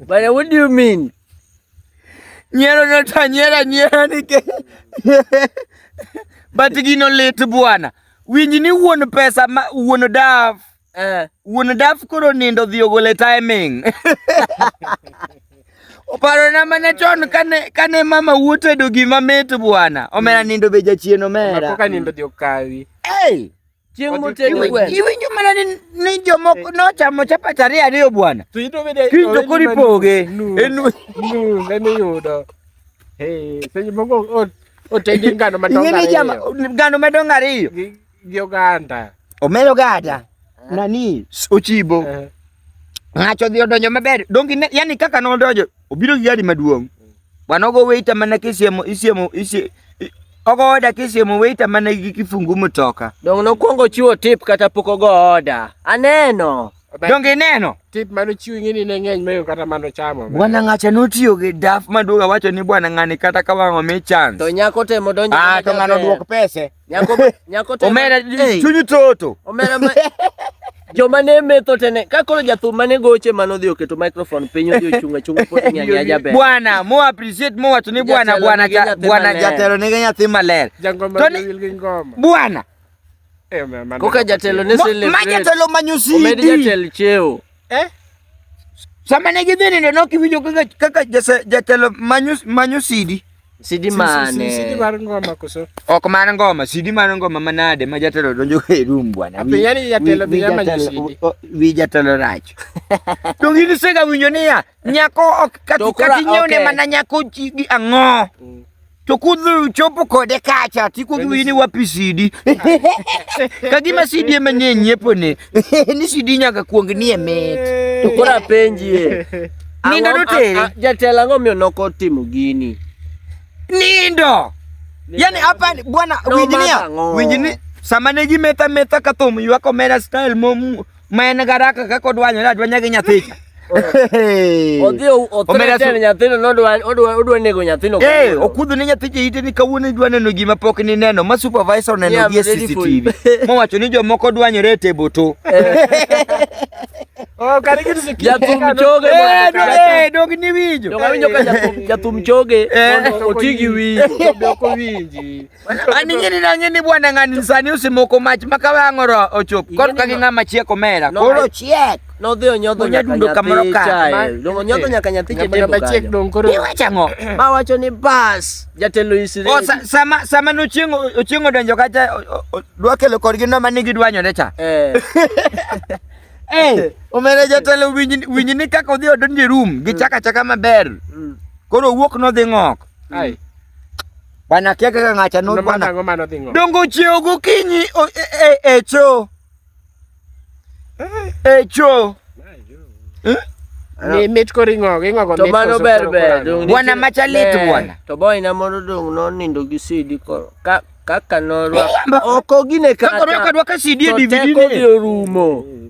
Bana, what do you mean? Nyiero nota nyiera nyiera nikech but gino lit bwana. Winj ni wuon pesa ma wuon daf. Eh, wuon daf koro nindo dhi ogole timing. Oparo na mana chon kane kane mama wuotedo gima mit bwana. Omera mm. nindo be jachien omera. Matoka nindo dhi okawi. Hey! Chieng' moted gweno. Iwinjo mana ni ni jomoko eh. nochamo chapat ariyo ariyo bwana. To ito bende kiny to kori poge. En nus en yudo. Eh, seche moko otedi ngano madongo ariyo. Ing'e jama ngano madongo ariyo. Gi oganda. Omelo gada. Eh. Nani ochibo. Ng'acho dhi odonjo maber. Dongi yani kaka nodonjo obiro gi gari maduong' bwana ogo waiter mana kisiemo isiemo isie ogo oda kisiemo waiter mana gi kifungu mtoka Donge nokwongo chiwo tip kata pok ogo oda. Aneno. donge ineno Tip mano chiwo ing'eni ne ng'eny mayo kata mano chamo. bwana ng'acha notiyo gi daf maduong' awacho ni bwana ng'ani kata ka wang'o mi chance To nyako temo donjo. ah to ng'ano duok pese Nyako nyako to omera chunyi toto. Omera ma joma ne metho tene ka koro jathum mane goche mano dhi oketo microphone piny odhi ochung achung pod nyanya jaber bwana mo appreciate mo wacho ni bwana bwana bwana jatelo nigi nyathi maler bwana eh, koka jatelo ne celebrate ma jatelo manyo CD omed jatelo cheo Eh? Sama ne gidhi nindo ne ok iwinjo kaka kaka jase- jatelo manyo manyo sidi. Sidi Si- si- mane? si- Sidi mar ngoma koso. Ok mar ngoma, sidi mar ngoma manade ma jatelo donjo e room bwana. Ape Wi- yani jatelo wi- dhi wi ama jatelo- jisidi. o- o- Wi jatelo rach. To gini sega winjo niya, nyako ok kati To kora- kati nyiew ne okay. mana nyako chi gi ang'o. To kudhi uchopo kode kacha ti kudhi wini wapi sidi. Kagima sidi ema nie nyiepo ne. Ni sidi nyaga kuong nie met. To kora penji e. Nindo do teri. Jatela ngo mi onoko timo gini. Nindo. Yani hapa bwana winjinia. Winjinia. Sama ne gi meta meta katom ywako mera style mom ma en garaka kaka odwanyore adwanya gi nyathicha odhi othiretene nyathino nodwa nego nyathino eh, okudho ne nyathicha ite ni kawuono idwa neno gima pok nineno ma supervisor oneno gi e cctv mowacho ni jomoko dwanyore e tebo to eh. oh, jathum choge eh, dog ni winjo jathum choge oti gi winjo An ing'eni na ng'eni bwana ng'ani sani usimoko mach ma ka wang' oro ochop kor ka gi ng'ama chiek omera koro chiek nodhi onyodho Onya nyaka dundo kamoro nyathi ka. chae Ma- Dong onyodho nyaka nyathi Ng'ama chetedo namba chiek kanyo dong koro. iwacho ang'o ma wacho ni bas jatelo O, isireni sa- sama sama nochieng' o- ochieng' odonjo kacha o- o- o- dwa kelo kodgi no mani gidwanyore cha Eh, Eh, omera jatelo winj winj ni kaka odhi odonjo e room gichaka chaka maber mm. koro owuok nodhi ng'ok Ai. Bana kia kaka ngacha no bana. Nango mano dhingo. Dongo cheo gokinyi e, e, e cho. Eh. E cho. Eh? Ni mit ko ringo, ringo go mit. To mano ber ber. Bwana machalit bwana. To boy na mondo dong no nindo gi sidi ko. Ka kaka norwa. Oko gine kata. Kaka norwa kadwa ka sidi e DVD ne. To teko orumo.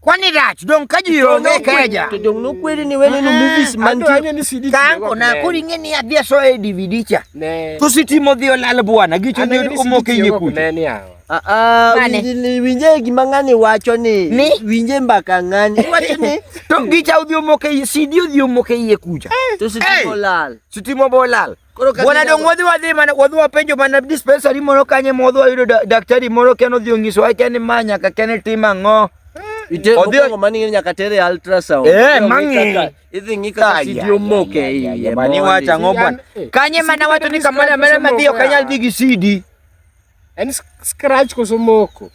Kwani rach dong ka ji onge keja. To dong nokweri ni wene no movies mantie. Kanko na koro ing'e ni adhi aso e DVD cha. To sitimo dhi olal bwana gicho ni omoke yie kucha. Ah, ah, winje gima ng'ani wacho ni ni winje mbaka ng'ani wacho ni to gicha odhi omoke CD odhi omoke iye kucha eh. to sitimo eh. lal sitimo bo lal Bwana dong wadhi wadhi mana wadhi wapenjo mana dispensary moro kanye modhi wayudo daktari moro ken odhi onyiso wa ken ma nyaka ken e tim ang'o Odhiyo mani ng'e nyaka tere ultrasound. Eh, mang'e. Idhi ng'i kaka sidi omoke iye. Mani wacha ng'o bwana. Eh, kanye mana wacho ni kamana mera madhiyo kanyal dhi gi sidi. En scratch koso moko.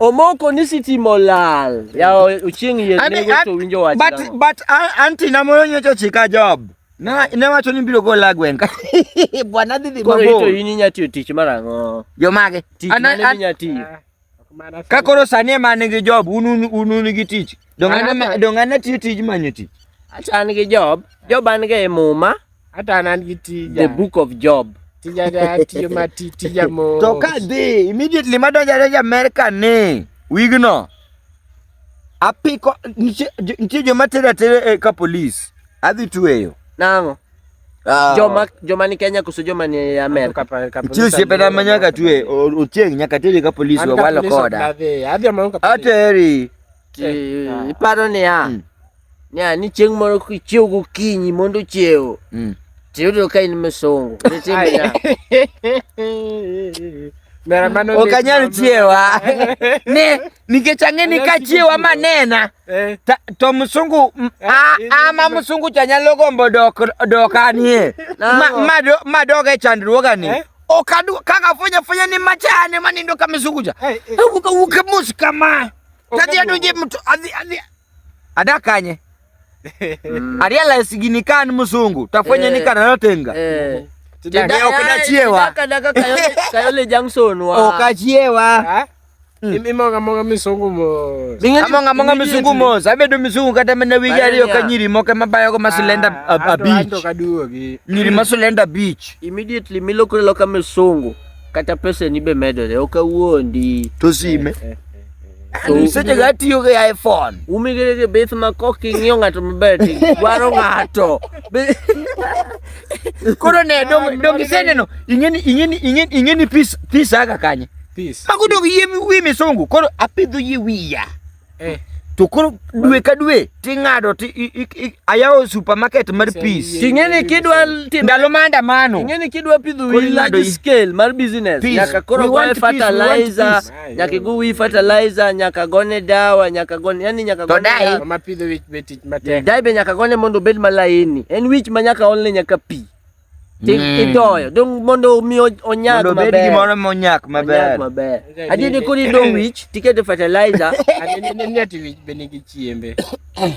Omoko ni sitimo lal. Ya ochieng' yie nego to winjo wach. But but anti na moyo nyocho chika job. Na ne wacho ni biro gola gweng' ka. Bwana dhi dhi Koro mabor. ito in inya tiyo tich mar ang'o? Jo mage. Tich Ana- mane an- minya tiyo? Ka koro sani ema an gi job, un un un un gi tich. Donga An- na donga na tiyo tij manyo tich. Acha an gi Job. Job an ga e muma. Hata an an gi tija. The book of Job. Tija da tiyo ma ti- tija mo. To ka dhi immediately madonjo adonjo America ni wigno Apiko nitie joma tera atera eh, ka polis. Adhi tweyo. Nang'o? Ah. Joma joma ni Kenya kuso joma ni Amerika. Nitie osiepena ma nyaka twe ochieng' nyaka teri ka polis wawalo koda. Ateri. Eh, ah. Iparo niya. Hmm. Yeah, ni chieng' moro kichiew gokinyi mondo ochiew Mm. tiyudo ka in misongo Mera mano ok lit anyal mama. chiewa ne nikech ang'e ni ka chiewa manena Eh, ta- to msungu m- a- Eh, ama msungu cha nyalo gombo dok dokanie No. Ma- ma do- ma dog e chandruogani Eh? ok adwa kaka afunya funya ni machane manindo ka msungu cha eh, eh. awuok awuok mos kama tadhi adonje mto adhi adhi Ada kanye? Aliala sigini kan musungu. Tafanya ni kana natenga. Eh. Tideo kada chiewa. Kada kayole kayole Jackson wa. O oh, kachiewa. Hmm. Imonga monga misungu mo. Amonga monga misungu mo. Sabe do misungu kata mena wigi ariyo ka nyiri mo kama bayo ko masulenda ah, a beach. Nyiri masulenda beach. Immediately milokre loka misungu. kata peseni be medore ok awuondi to sime eh, eh, eh, so, seche ga tiyo gi iphone umigere gi bith ma kok ing'iyo ng'ato maber ti dwaro ng'ato koro ne dong iseneno ing'eni ing'eni ing'eni ing'eni pis pis aga kanye pis mago dong yie wi misungu koro apidho yie wiya eh. to koro dwe ka dwe ting'ado ti ayawo supermarket mar peace ting'eni kidwa ndalo maandamano ting'eni kidwa pidho wi large scale mar business nyaka koro goe fertilizer nyaka igo wi fertilizer nyaka gone dawa nyaka gone yani nyaka gone dawa ma pidho wich be tich matek dai be nyaka gone mondo obed malaini en wich ma nyaka olne nyaka pii Ti- Mm. Itoyo, dong mondo omi o- onyag Mondo obed maber. gimoro monyak Onyag maber. maber. Okay, Adier ni ni- koro idong wich, tikete fertilizer, Neti wich be nigi chiembe.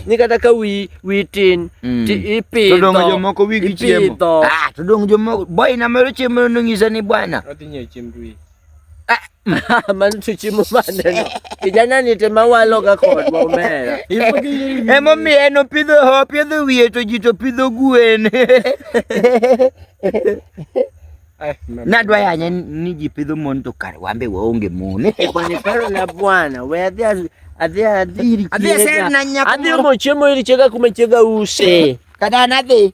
ni kata ka wi wi tin, Mm. ti ipidho. To donge jomoko wigi chiemo? Ipidho. Ah, to donge jomoko boy na mero chiemo nonyisa ni bwana. Odhi nyiewo chiemb wich. Mama nithuchi mumaneno kijana nite mawalo ga kod momera emomiyo en opidho opidho wiye to ji to pidho gwen nadwa yanya ni ji pidho mon to kar wambe waonge mon kwaniparo na bwana we adhi adhi adhi adhi serna nyako adhi omo chiemo iri chega kuma chega use kada nadhi